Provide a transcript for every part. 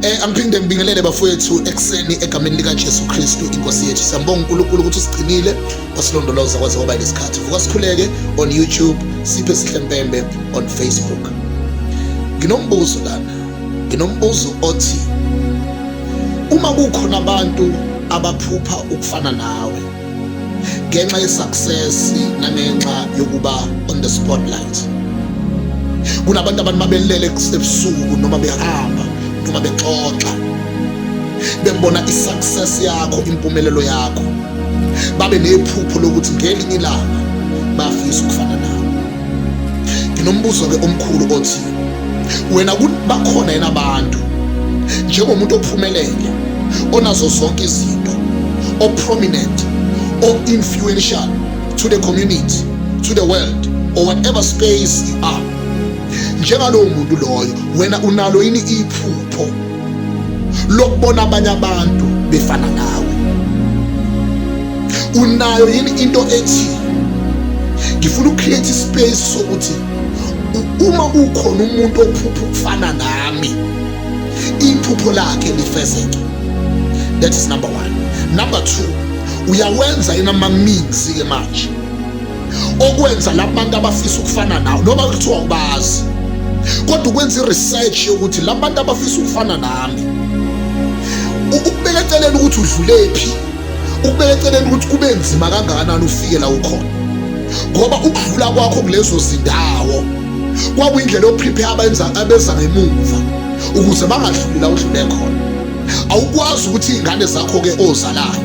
Eh angiphinde ngibingelele bafowethu ekseni egameni lika Jesu Kristu inkosi yethu. Siyambonga uNkulunkulu ukuthi usigcinile wasilondoloza kwaze kwaba lesikhathi. Vuka sikhuleke on YouTube, siphe sihle mpembe on Facebook. Nginombuzo lana. Nginombuzo othi uma kukhona abantu abaphupha ukufana nawe ngenxa yesuccess nangenxa yokuba on the spotlight kunabantu abantu mabelele ebusuku noma behamba noma bexoxa bebona isuccess yakho impumelelo yakho babe nephupho lokuthi ngelinye ilanga bafisa ukufana nawe nginombuzo-ke omkhulu othi wena bakhona yena abantu njengomuntu ophumelele onazo zonke izinto o-prominent o-influential to the community to the world or whatever space you are njengalowo muntu loyo wena unalo yini iphupho lokubona abanye abantu befana nawe unayo yini into ethi ngifuna ucreate ispace sokuthi uma ukhona umuntu ophupha ukufana nami iphupho lakhe lifezeke that is number one number two uyawenza yini ama-mix-ke manje okwenza laba bantu abafisa ukufana nawe noma kuthiwa ubazi kodwa ukwenza i-research yokuthi laba bantu abafisa ukufana nami ukubeka eceleni ukuthi udlulephi ukubeka eceleni ukuthi kube nzima kangakanani ufike la ukhona ngoba ukudlula kwakho kulezo zindawo kwakuyindlela yoprepare abenza abeza ngemuva ukuze bangadluli la udlule khona awukwazi ukuthi iy'ngane zakho-ke ozalayo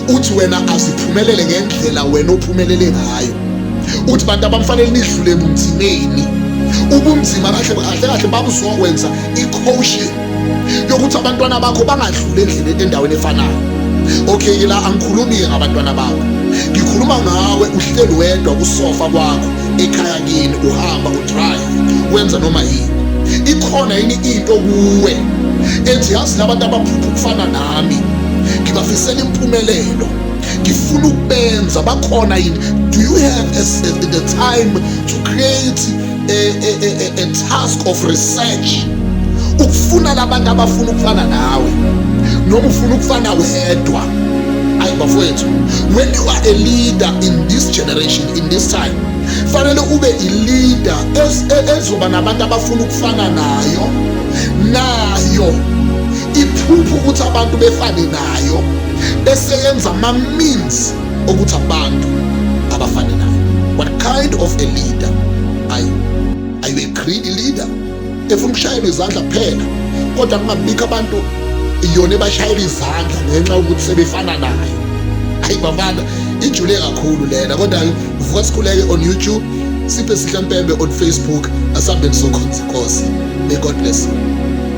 uthi wena asiphumelele ngendlela wena ophumelele ngayo uthi bantu abamfanele nidlule ebunzimeni ubunzima kahle kahle kahle babuzokwenza i-coaching yokuthi abantwana bakho bangadluli endleleni endaweni efanayo okay ke la angikhulumi-ke ngabantwana bakho ngikhuluma ngawe uhleli wedwa kusofa kwakho ekhaya kini uhamba udrive wenza noma yini ikhona yini into kuwe ethi yazi labantu abaphupha ukufana nawe nami ngibafisela impumelelo ngifuna ukubenza bakhona yini do you have a, a, the time to create a, a, a, a task of research ukufuna labantu abafuna ukufana nawe noma ufuna ukufana wedwa ayi bafowethu when you are a leader in this generation in this time fanele ube ileader e, ezoba nabantu abafuna ukufana nayo nayo iphupha ukuthi abantu befane nayo bese yenza ama-means okuthi abantu abafane nayo what kind of a leader are you, are you a greedy leader efuna ukushayela izandla kuphela kodwa kungabikho abantu iyona ebashayela izandla ngenxa yokuthi sebefana nayo ayi bafana ijule kakhulu lena kodwa vuka sikhuleke on youtube siphe sihlempembe on facebook asambeni sokhonzi inkosi may god bless you